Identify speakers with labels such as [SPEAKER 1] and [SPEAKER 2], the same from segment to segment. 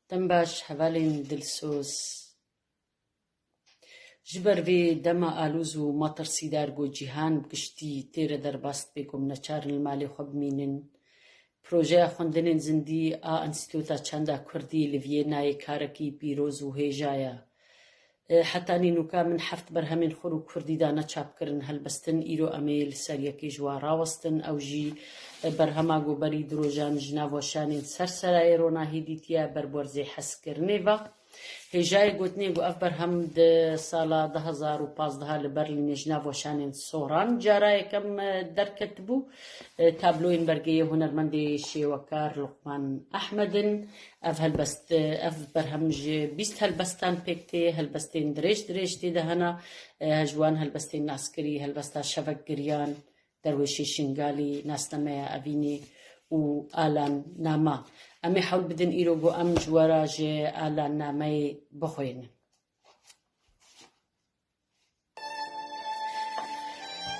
[SPEAKER 1] Dem baş hevalên dilsoz. Ji ber vê dema alûz û matirsîdar ku cîhan bi giştî tê re derbas dibe ku em neçar in li malê xwe bimînin, projeya xwendinên zindî a Înstîtûta Çanda Kurdî li Vîyennayê karekî pîroz û hêja ye. Heta nînûka min heft berhemên xwe rû kurdî da ne çap kirin helbestin, îro em ê li ser yekê ji wa rawestin. Ew jî berhema Goberî di rojan ji nav weşanên ser serayê ronahî dîtiye ber werzê hezkirinê ve. Hêjayê gotinê ku ev berhem di sala du hezar û pazdeh li Berlînê ji nav weşanên soran cara yekem derketibû. Tabloyên bergeyê hunermendê şêwekar Luqman Ehmed in. Ev helbest, ev berhem ji bîst helbestan pêk tê, helbestên dirêj dirêj tê de hene, ji wan helbestên naskirî, helbesta şevekgiriyan, derwêşê Şingalî, nasnameya evînê û alan nama. Em ê hewl bidin îro ku em ji we re ji alan nameyê bixwînin.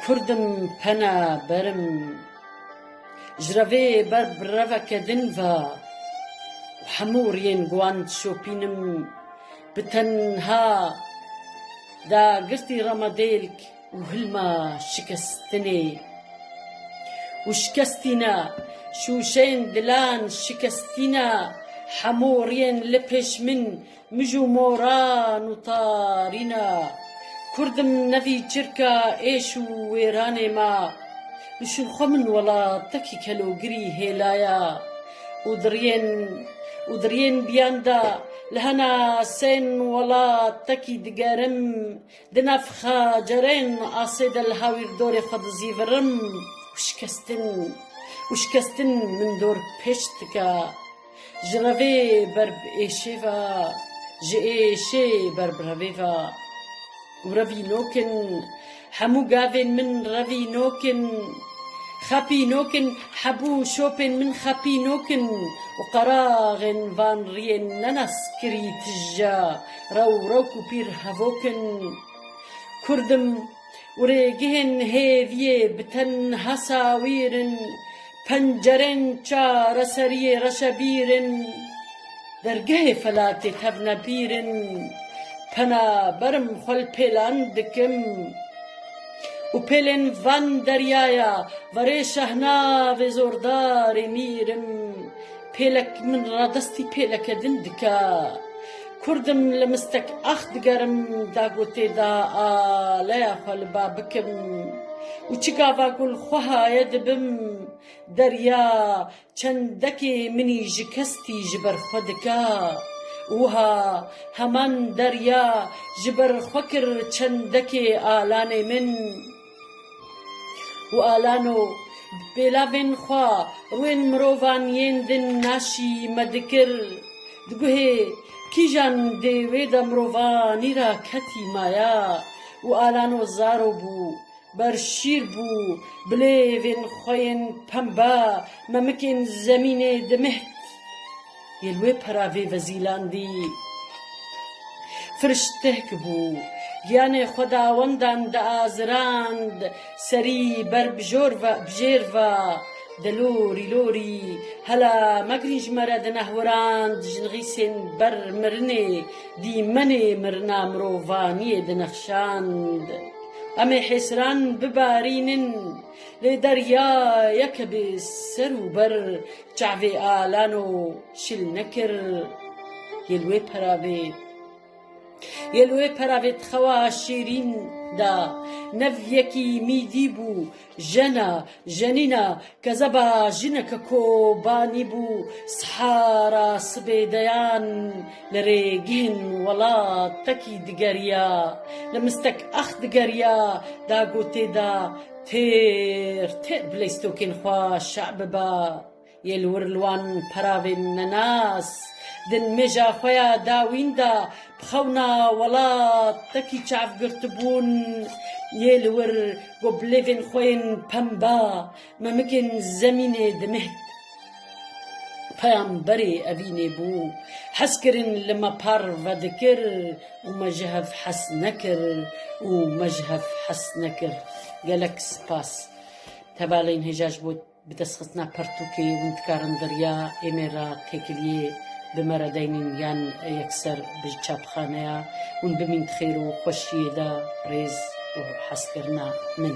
[SPEAKER 1] Kurdim pena berim ji re vê ber bi reveke din ve û hemû riyên ku wan dişopînim bi tenha da girtî re me dêlk û hilma şikestinê û şikestîna şûşeyên dilan şikestîna hemû riyên li pêş min Mij û moran û tarîna Kurdim nevî çirka êş û wêranê ma Bişûn xwe min welatekî kelogirî hêlaya Û diriyên û diriyên biyan da li hena sên welatekî digerim Di nav xacerên asê de li hawîrdorê xwe dizîvirim Û şikestin û şikestin min dor pêç dika Ji revê ber bi êşê ve, ji êşê ber bi revê ve û revînok in. Hemû gavên min revînok in, xepînok in, hebû şopên min xepînok in û qeraxên van riyên ne naskirî tije rew rewk û pîr hevok in. Kurd im. û rêgihên hêviyê bi tenha sawîr in, pencerên çareseriyê reşebîr in, dergehê felatê tevnepîr in, pena berim xwe li pêlan dikim û pêlên van deryaya verê şehnavê zordarê mîr im, Pêlek min radestî pêleke din dike. Kurd im li mistek ax digerim da gotê da a leya xwe li ba bikim û çi gava ku li xwe haye dibim derya çendekê minî ji kestî ji ber xwe dike û wiha heman derya ji ber xwe kir çendekê alanê min. û alano bi pêlavên xwe rûyên mirovan yên din naşî me dikir, di guhê kîjan dê wê de mirovanî ra ketî maya û alano zaro bû, ber şîr bû, bilêvên xwe yên pembe memikên zemînê dimîht. Yê li wê pera vê vezîlandî firştehk bû, giyanê xwedawendan diazirand, serî ber bijêr va, De lorî lorî, hela megirin ji me re di nehwirand jinxîsên ber mirinê, dîmenê mirina mirovaniyê dinexşand. Em ê hêsiran bibarînin, lê deryayeke bê ser û ber, Çavê alano şil nekir yê li wê peravê Yê li wê peravê di xewa şêrîn de Nev yekî mîdî bû jena jenîna Kezeba jineke kobanî bû Sihara sibê deyan li rê gihên welatekî digeriya Li mistek ax digeriya dagotê de Têr têr bi leystokên xwe şa biba, yê li wir li wan peravên nenas di nimêja xwe ya dawîn de bi xewna welat tekî çav girtibûn, yê li wir got bi lêvên xwe yên pemba memikên zemînê dimîht. Peyamberê evînê bû, hezkirin li me parve dikir û me ji hev hez nekir û me ji hev hez nekir. Gelek spas. Tevalên hêja ji bo bi dest xistina pertûkê hûn dikarin derya êmê re têkiliyê bi me re deynîn yan yekser bi çapxaneya hûn bimîn di xêr û xweşiyê de. Rêz û hezkirina min.